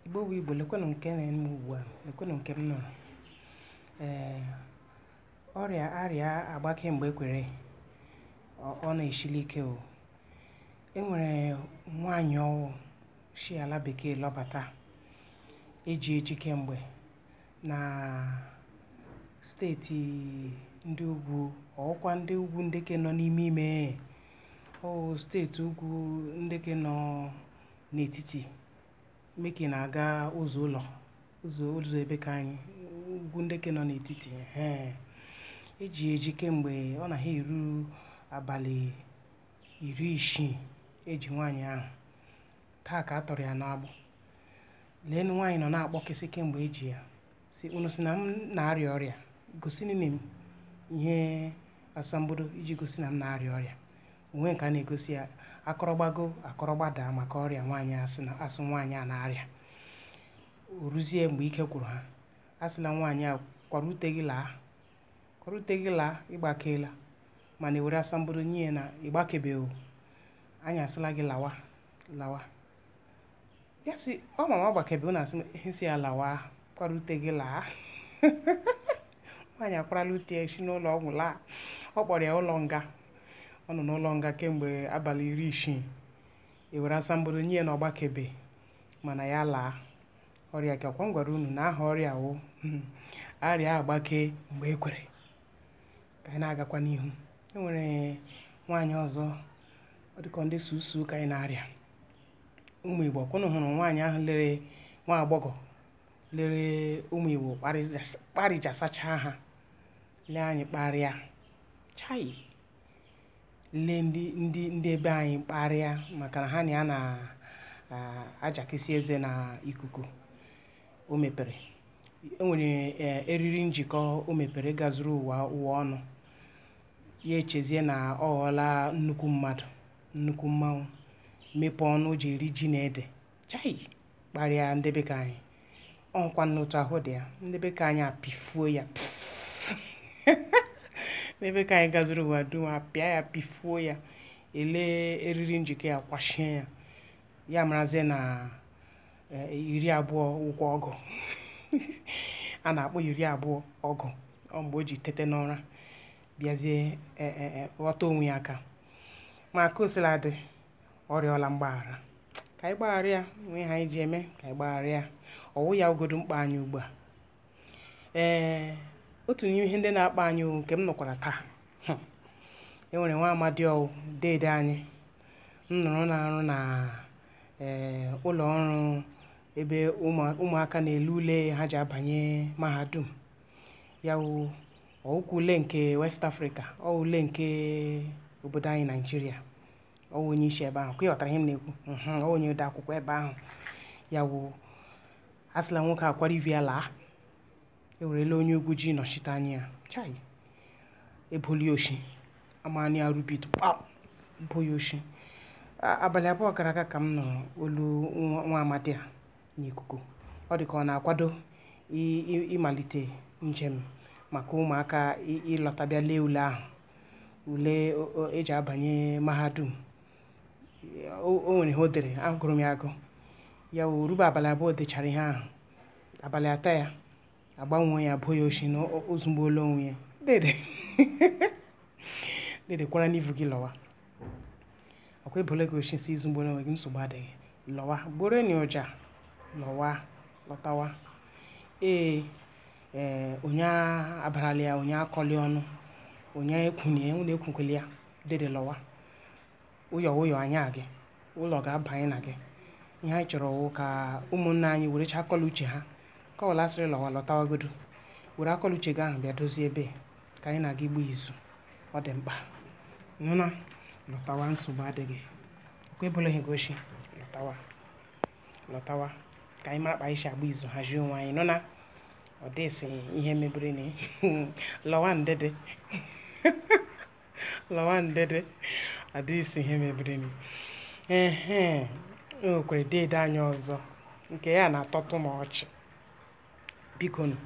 igbo bụ igbo lekwenụ nke na-eme ugbu a lekwenụ nke m nụrụ ee ọrịa arịa agbake mgbe e kwere ọ na-esili ike o e nwere nwaanyị ọwụ si ala bekee lọbata eji eji kemgbe na steeti ndị ugwu ọ wụkwa ndị ugwu nde ke nọ n'ime ime o steeti ugwu nde ke nọ n'etiti meke na-aga ụzọ ụlọ ụzọ ụzọ ebe ka anyị ugwu ndị ke nọ n'etiti ee eji eji kemgbe ọ na ha eru abalị iri isii eji nwaanyị ahụ taa ka a tọrọ ya n'agbụ leenụ nwaanyị nọ na-akpọkịsị kemgbe eji ya si unu si na m na-arịa ọrịa gosinụ m ihe asambodo iji gosi na m na-arịa ọrịa o nwe nke a na-egosi ya a kọrọ gbago a kọrọ gbada maka ọrịa nwaanyị asị na asị nwaanyị a na-arịa o ruzie mgbe ike gwụrụ ha asịla nwaanyị a kwara ute gị laa kwara ute gị laa ị gbakeela mana e were asambodo nye ya na ị gbakebeghị anyị asịla gị lawa lawa ya si ọ ma na ọ gbakebe na a sị ya lawa kwara ute gị laa nwaanyị akwarala ute ya si n'ụlọ ọgwụ laa ọ kpọrọ ya ụlọ nga ọ nọ n'ụlọ nga kemgbe abalị iri isii e were asambodo nye ya na ọ gbakebe mana ya laa ọrịa ke ọkwa m gwara unu na aha ọrịa wụ arịa agbake mgbe e kwere ka anyị na-agakwa n'ihu e nwere nwaanyị ọzọ ọ dịka ndị susu ka anyị na-arịa ụmụ igbo ọkwa unu hụrụ nwaanyị ahụ lere nwa agbọghọ lere ụmụ igbo kparịjasacha ha lee anyị kparịa chai le ndị ndị ndị ebe anyị kparịa maka na ha na ya na-ajakisi eze na ikuku o mepere e nwere e, eriri njikọ o mepere gazuru ụwa ụwa ọnụ ya echezie na ọ ghọọla nnukwu mmadụ nnukwu mmanwụ mepee ọnụ o ji eri ji na ede chai kparịa ndị be ka anyị ọkwanụ otu ahụ ọ dị ya ndị be ka anyị apịfuo ya n'ebe ka anyị gazuru ụwa dum apịa ya pịfuo ya ele eriri njikọ ya kwachie ya ya marazie na iri abụọ wụkwa ọgụ a na-akpọ iri abụọ ọgụ o mgbe o ji tete n'ụra bịazie ghọta onwe ya aka ma ka o sila dị ọ rịọla mgbaghara ka anyị gbaghara ya nwee ihe anyị ji eme ka anyị gbaghara ya ọwụ ya wụgodu mkpa anyị ugbu a ee otu n'ime ihe ndị na-akpa anyị o, nke m nụkwara taa hmm, e nwere nwa amadi ọwụ deede anyị m nụrụ na-arụ na ee ụlọ ọrụ ebe ụmụ- ụmụaka na-ele ule ha ji abanye mahadum ya wụ ọwụkwa ule nke west africa ọ ule nke obodo anyị naijiria ọ wụ onye isi ebe ahụ ka ị ghọtara ihe m na-ekwu Mhm, ọ wụ onye ode akwụkwọ ebe ahụ ya wụ asịla nwoke a kwara ivu ya laa ewerela onye ugwu ji nọchite anya ya chai ebola ya oshi amani arubit kpam bo ya oshi A- abalị abụọ gara aga ka m nụrụ olu nwa nwa amadi a n'ikuku ọ dị ka ọ na-akwado ịmalite njem maka ụmụaka ịlọta bịa lee ule ahụ ule eji abanye mahadum o nwere ihe o dere agụrụ m ya agụ ya o rube abalị abụọ o dechara ihe ahụ abalị atọ ya agbanwee ya ebo ya oshi na o zugbuola onwe ya dede kwaranụ ivu gị lọwa ọkwa ebole gị oshi i zugbuola onwe gị nsogbu adịghị lọwa gbọrọnụ ụja lọwa lọtawa ee ee onye abarala ya onye akọla ya ọnụ onye ekwu onye ekwukwele ya dede lọwa ụyọ ụyọ anya gị ụlọ ga-abanye na gị ihe anyị chọrọ wụ ka ụmụnna anyị werecha akọ la uche ha kọwala asịrị lọwa lọtawagodu were akọ la uche gị ahụ bịa dozie ebe ka anyị na gị gbaa izu ọ dị mkpa nụna lọtawa nsogbu adịghị kwa ebola gị oshi lọtawa lọtawa ka anyị mara kpa anyị si agba izu hazie onwe anyị nụna ọ dịsị ihe mebirinụ lọwanụ dede lọwanụ dede ọ dịsị ihe mebirinụ ehe o nwekwara deede anyị ọzọ nke ya na-atọtụ m ọchị biko nụ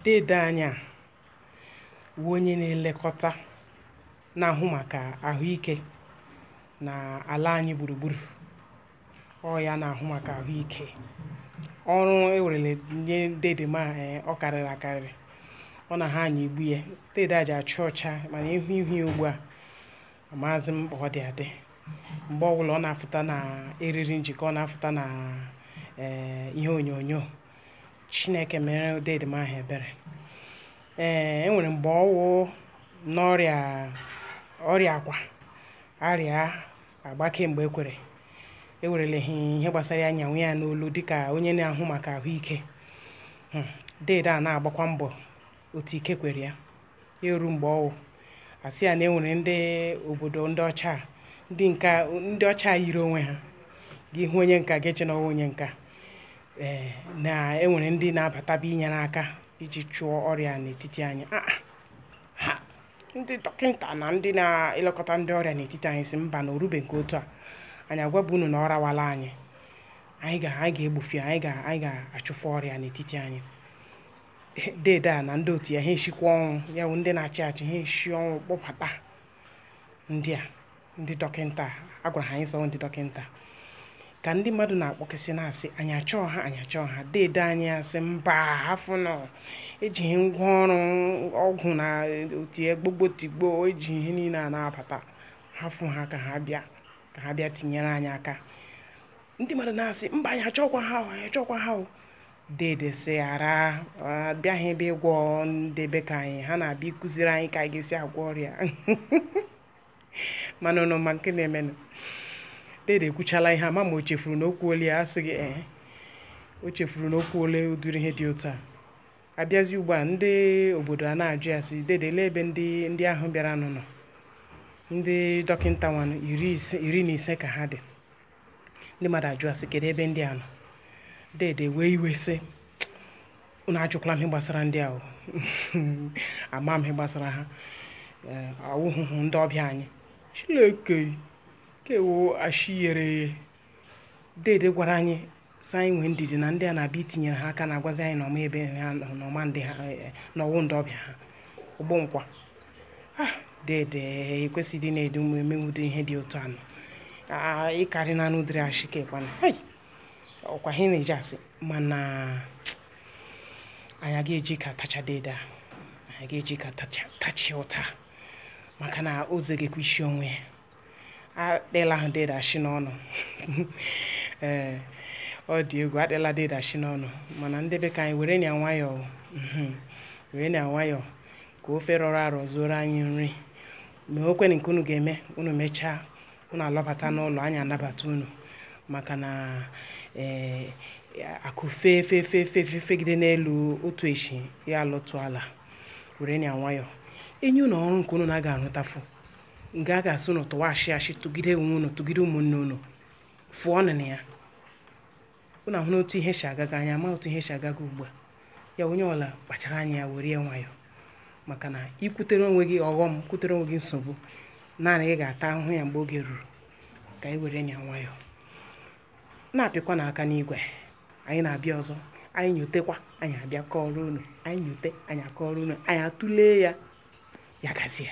deede anyị a wụ onye na-elekọta na-ahụ maka ahụike na ala anyị gburugburu ọ ya na-ahụ maka ahụike ọrụ ewerele nye dede ma eh, ọ karịrị akarịrị ọ na-anyịgbu ya dede a ji acha ọcha mana ihu ihu ya ugbu a amaghịzi m kpa ọ dị adị mgbe ọwụla ọ na-afụta na eriri njikọ ọ na-afụta na eh, ihe onyonyo chineke mere dede m ahụ ebere ee e nwere mgbe ọwụ n'ọrịa ọ rịakwa arịa agbake mgbe ekwere ewereleghị ihe gbasara ya nyawa ya n'olu dịka onye na-ahụ maka ahụike hmm, deede a na-agbakwa mbọ otu ike kwere ya ya eru mgbe ọwụ asị ya na enwere ndị obodo ndị ọcha a, ndị nka ndị ọcha a yiri onwe ha gị hụ onye nka ga-eche na ọwụ onye nka ee na enwere ndị na-abataba inyere aka iji chụọ ọrịa a n'etiti anyị Ah, ah. ha ndị dọkịta na ndị na-elekọta ndị ọrịa n'etiti anyị sị mba na o rube nke otu a anyị agwabụ unu na ọ rawala anyị anyị ga anyị ga-egbufu anyị ga anyị ga-achụfu ọrịa n'etiti anyị dede a na ndị otu ya ha eshikwa ọnwụ ya bụ ndị na-achị achị ha eshi ọnwụ kpọbata ndị a ndị dọkịta a gwara ha anyị sọọ ndị dọkịta ka ndị mmadụ na-akpọkịsị na-asị anyị achọọ ha anyị achọọ ha dede anyị asị mba hafụ nọ ejighị ngwa ọrụ ọgwụ na otu egbogbo tigbo eji ihe niile a na-abata hafụ ha ka ha bịa ka ha bịa tinyere anyị aka ndị mmadụ na-asị mba anyị achọkwa ha o anyị achọkwa ha o Dede sị ha abịaghị ebe ịgwọ ndị be ka anyị ha na-abịa ịkụziri anyị ka anyị ga-esi agwọ ọrịa mana unu ma nke na-emenụ dede ekwuchala ihe ama ma o chefuru na o kwuole ya asị gị ee o chefuru na o kwuole ụdịrị ihe dị otu a abịazi ugbu a ndị obodo a na-ajụ ya sị dede lee ebe ndị ndị ahụ bịaranụ nọ ndị dọkịta nwanụ iri ise iri na ise ka ha dị ndị mmadụ ajụọ ya sị kedu ebe ndị a nọ dede wee iwe sị unu ajụkwala m ihe gbasara ndị ahụ ama m ihe gbasara ha eh, awụhụhụ ndị ọbịa anyị Chileke kewo ashiyere dede gwara anyị sị anyị nwee ndidi na ndị a na-abịa itinyere ha aka na-agwazi anyị na ọ ma ebe ha nọ na ọ ma ndị ha eh, na ọwụ ndị ọbịa ha ụgbọ nkwa ah dede ekwesịghị ịdị na-eme ụdị ihe dị otu anụ Ah, ịkarị na anụ dịrị ashị ka ịkwana hai ọkwa ha na-eji asị mana anyị aga eji ka tacha dede a anyị ga-eji ka tacha tacha ya ụta maka na o zegekwa ishi onwe ya akpịla ha dede ashị n'ọnụ ee ọ dị egwu akpịla dede ashị n'ọnụ mana ndị be ka anyị were nya nwayọọ mhm. were nya nwayọọ ka ofe rọrọ arọ zuoro anyị nri ma o kwere nke unu ga-eme unu mechaa unu alọbata n'ụlọ anyị anabata unu maka na ee akụ fee fee fee fee fee fegide n'elu otu echi ya alọtụ ala were nya nwayọọ enye unu ọrụ nke unu na-aga arụtafụ nke a ga-asị unu tụwa ashị ashị tụgide onwe unu tụgide ụmụnne unu fụọ ọnụ na ya unu ahụna otu ihe si agaga anyị ama otu ihe si agaga ugbu a ya onye ọla kpachara anya ya were ya nwayọọ maka na i kwutere onwe gị ọghọm kwutere onwe gị nsogbu naanị gị ga-ata ahụhụ ya mgbe oge ruru ka anyị were ya nwayọọ na-apịkwa n'aka n'igwe anyị na-abịa ọzọ anyị nyotekwa anyị abịa kọọrọ unu anyị nyote anyị akọọrọ unu anyị atụlee ya ya gazie